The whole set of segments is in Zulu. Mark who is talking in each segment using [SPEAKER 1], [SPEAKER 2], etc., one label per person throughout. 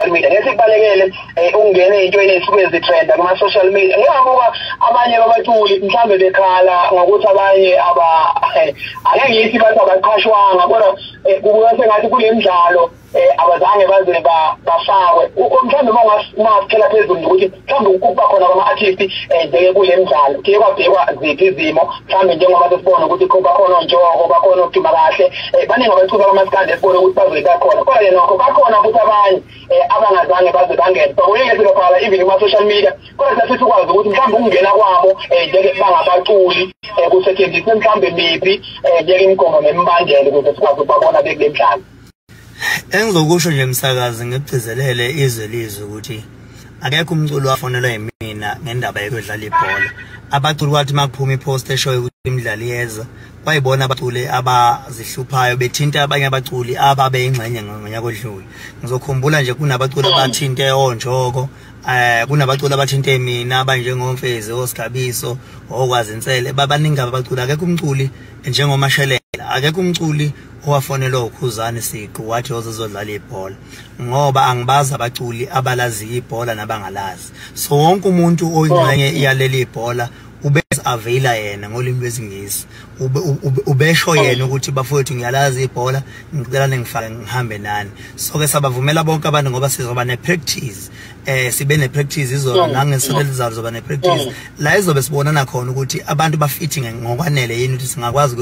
[SPEAKER 1] social media nesibalekele eh, ungene into enesuku ezitrenda kuma social media ngiyabuka abanye babaculi mhlambe bekhala ngokuthi abanye aba eh, ake ngithi bathi abaqhashwanga kodwa eh, kubuka sengathi kulemidlalo abazange baze bafakwe mhlambe uma ungaphela phezulu ukuthi mhlawumbe ukuba khona kwama-artist ezeke eh, kule mdlalo kuye kwabhekwa ziphi izimo mhlawumbe njengoba sesibona ukuthi bakhona ontshoko bakhona okuduma kahle um baningi abacuba kwamasikandi esibone ukuthi bazobe bakhona kodwa ke nokho bakhona futhi abanye um abangazange baze bangene bakuningi esikabhala even kuma-social media kodwa sasifisa ukwazi ukuthi mhlawumbe ukungena kwabo um njeke bangabaculi um kusetshenziswe mhlawumbe miphi um njeke imigomo nemibandela ukuze sikwazi ukubabona bekule mdlalo
[SPEAKER 2] Engizokusho nje msakazi ngigcizelele izwe lizwe ukuthi akekho umculo wafonelwa yimina ngendaba yokudlala ibhola abaculi kwathi makuphuma ipost eshoyo ukuthi imidlalo iyeza kwayibona abaculi abazihluphayo bethinta abanye abaculi ababeyingxenye ngonyaka odlule ngizokhumbula nje kunabaculi abathinte onjoko eh kunabaculi abathinte mina abanjengomfezi oSgabiso okwazinsele babaningi abaculi akekho umculi njengomashelela akekho umculi owafonelwa ukhuzane siqu wathi yoze zodlala ibhola ngoba angibazi abaculi abalaziyo ibhola nabangalazi so wonke umuntu oyingxenye iyaleli ibhola ubese aveyila yena ngolimi lwesingisi ubesho yena ukuthi bafowethu ngiyalazi ibhola ngicela ningifake ngihambe nani so ke sabavumela bonke abantu ngoba sizoba ne-practice eh sibe ne-practice izolo nangesonto elizayo zoba ne-practice la izobe sibonana khona ukuthi abantu bafithi ngokwanele yini ukuthi singakwazi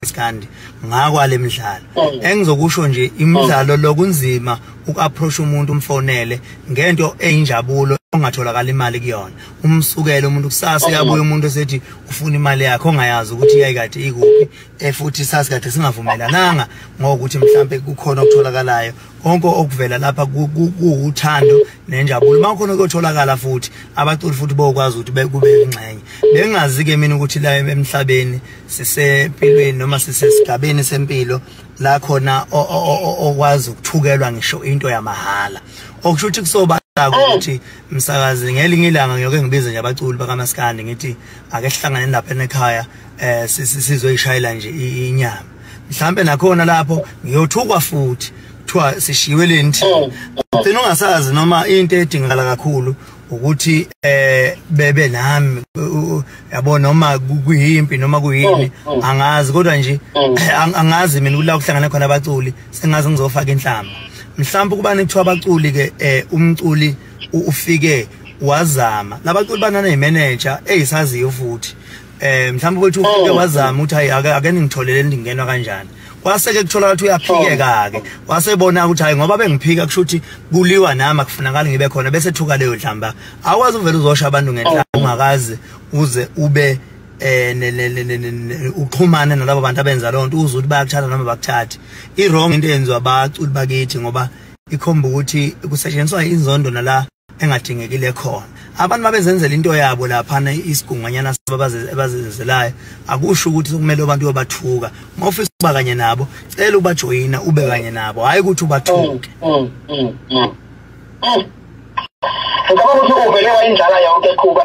[SPEAKER 2] Skandi ngakwale midlalo oh. engizokusho nje imidlalo oh. lokunzima ukuapproach umuntu umfonele ngento eyinjabulo ongatholakala imali kuyona umsukele umuntu kusasa oh. yabuya umuntu esethi ufuna imali yakhe ongayazi ukuthi yayikade ikuphi efuthi sasikade singavumelananga ngokuthi mhlambe kukhona okutholakalayo konke okuvela lapha kuwuthando nenjabulo uma khona kuyotholakala futhi abaculi futhi bokwazi ukuthi kube ingxenye bengazi ke mina ukuthi la emhlabeni sisempilweni noma sisesigabeni sempilo la khona okwazi ukuthukelwa ngisho into yamahhala okusho ukuthi kusoba ukuthi msakazi ngelinye ilanga ngiyoke ngibize nje abaculi bakamaskandi ngithi ake sihlangane lapha ekhaya eh sizoyishayela nje inyama mhlambe nakhona lapho ngiyothukwa futhi kuthiwa sishiwe lenti ugcina ungasazi noma into edingakala kakhulu ukuthi eh bebe nami yabo noma kuyimpi noma kuyini oh, oh. angazi kodwa nje oh. angazi mina kula kuhlangana khona abaculi sengazi ngizofaka inhlamba mhlawumbe kuba nekuthiwa abaculi ke eh, umculi ufike wazama labaculi banana imanager eyisaziyo futhi eh mhlawumbe ukuthi ufike wazama ukuthi hayi ake ningitholele ndingenwa kanjani kwaseke kuthola ukuthi uyaphikeka ke wasebona ukuthi hayi ngoba bengiphika kusho ukuthi kuliwa nami akufunakali ngibe khona bese thuka leyo dlamba akwazi uvela uzosha abantu ngenhlamba oh. ungakazi uze ube eh uxhumane nalabo bantu abenza lonto uze ukuthi bayakuthatha noma bakuthathi i wrong into yenziwa abaculi bakithi ngoba ikhomba ukuthi kusetshenziswa inzondo nala engadingekile khona abantu babezenzela into yabo laphana isigunganyana abazenzelayo akusho ukuthi kumele abantu yobathuka uma ufisa ukuba kanye nabo cela ubajoyina ube kanye nabo hhayi ukuthi ubathuke mm, mm, mm,
[SPEAKER 1] ngicabanga ukuthi uvele wayindlala yonke qhuba